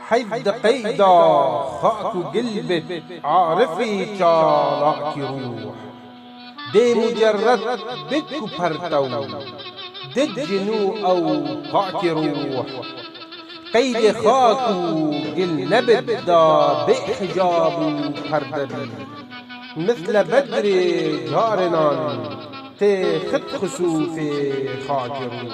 Heyv di qeyda xak û gil bit arifî çalakî rûh. Dê mucerret bit ku pertew di cin û ew pakî rûh. Qeydê xak û gil nebit da bê hicab û perde bî. Misle bedrê carinan tê xit xusûfê xakê rûh.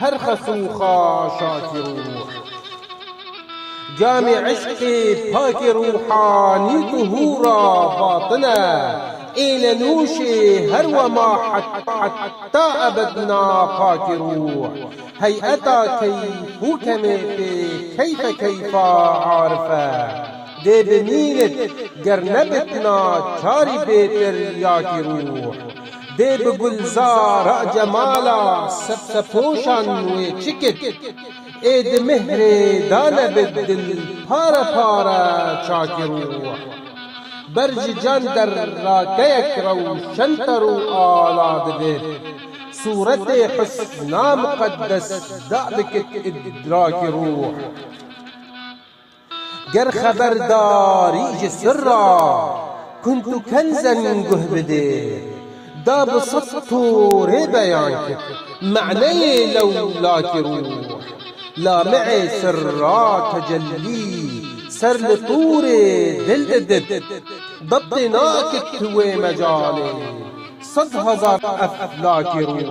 Her xesûxa şakî rûh. Camê eşqê pakê rûhanî ku hûra batin e, êne nûşê her wema heta ebed na pakê rûh. Heyeta keyf û kemê pê keyfe keyfa arif e. Dê bimînit ger nebitna çarî bêtir yakî rûh. Dê bi Gulzara Cemala sebtepoşan wê çi kit? Ê di mihrê da nebe dil pare pare çakî rûwa. Ber ji can der rakeyek rewşentar û ala dibe. Sûretê Husna Miqeddes da dikit îdrakî rûh. Ger xeberdarî ji sirra kunt û kenzen guh bidê, da bi sed torê beyan kir maneyê lewlakî rûh, lamicê sirra tecellî ser li torê dil didib. Dep tê nakit tu wê mecalê sed hezar eflakî rûh.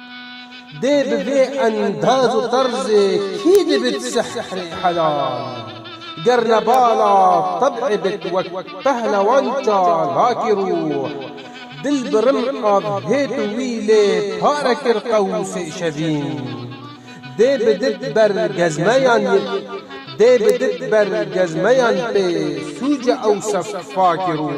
Dê bi vê endaz û terzê kî dibit sihrê helal? Ger ne bala teb'ê bit wek pehlewan çalakî rûh. Dil bi rim av hêt û wî lê pare kir qewsê şevîn. Dê bi dit ber gezmeyan yek dê bi dit ber gezmeyan pê sûce ew sefakî rûh.